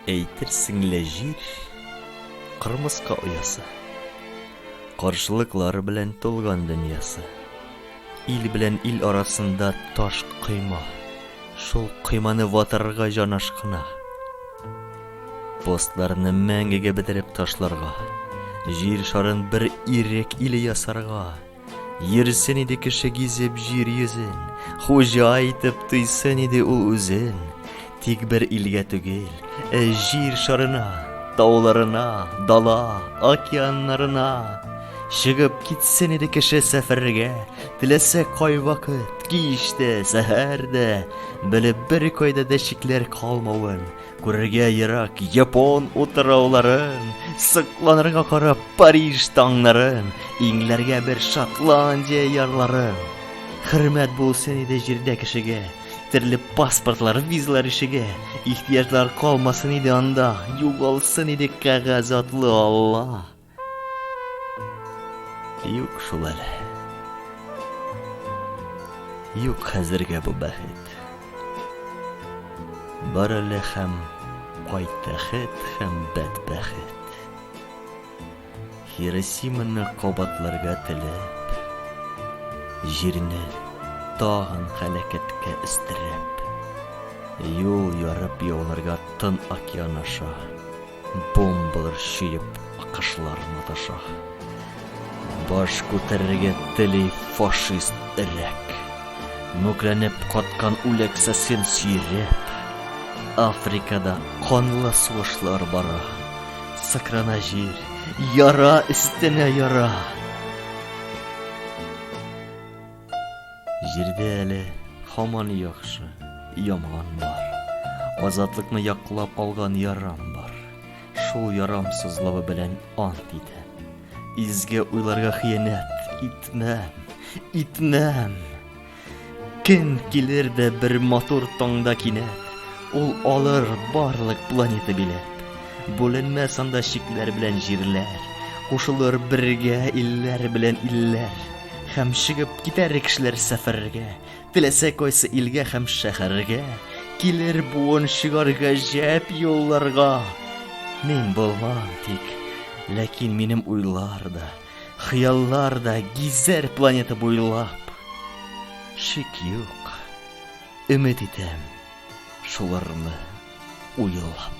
Әйтерсең лә җир кырмыска оясы. Каршылыклар белән тулган дөньясы. Ил белән ил арасында таш койма. Шул койманы ватарга җан ашкына. Постларны мәңгегә бетереп ташларга. Җир шарын бер ирек иле ясарга. Йөрсен иде кеше гизеп җир йөзен, Хуҗа итеп тойсын иде ул үзен. Тик бер илгә түгел, ә җир шарына, Тауларына, дала, океаннарына. Чыгып китсен иде кеше сәфәргә, Теләсә кайвакыт, кич тә, сәһәр дә, Белеп бер кайда да чикләр калмавын. Күрергә ерак япон утырауларын, сыкланырга карап Париж таңнарын, иңләргә бер Шотландия ярларын. Хөрмәт булсын иде җирдә кешегә, төрле паспортлар, визалар ишеге, ихтияҗлар калмасын иде анда, югалсын иде кәгазь атлы Алла. Юк шул әле. Юк хәзергә бу бәхет. Бар әле һәм кайт тәхет һәм бәт бәхет. Хиросиманы кабатларга теләп, җирне тагын хәләкәткә өстерәп, юл ярып яуларга тын океан аша. Бомбалар чөеп акышлар маташа. Баш күтәрергә тели фашист эрәк. Мүкләнеп каткан үләксәсен сөйрәп. Африкада канлы сугышлар бара. Сыкрана җир, яра өстенә яра. Җирдә әле һаман яхшы, яман бар. Азатлыкны яклап алган ярам бар. Шул ярамсызлыгы белән ант итәм. Изге уйларга хыянәт итмәм, итмәм. Кем килер дә бер матур таңда кинәт, ул алыр барлык планета билет. Бүленмәс анда чикләр белән җирләр, кушылыр бергә илләр белән илләр. Һәм чыгып китәр кешеләр сәфәргә, Теләсә кайсы илгә һәм шәһәргә. Килер буын чыгар гаҗәп юлларга. Мин булмам тик, ләкин минем уйлар да, Хыяллар да гизәр планета буйлап. Шик юк, өмет итәм шуларны уйлап.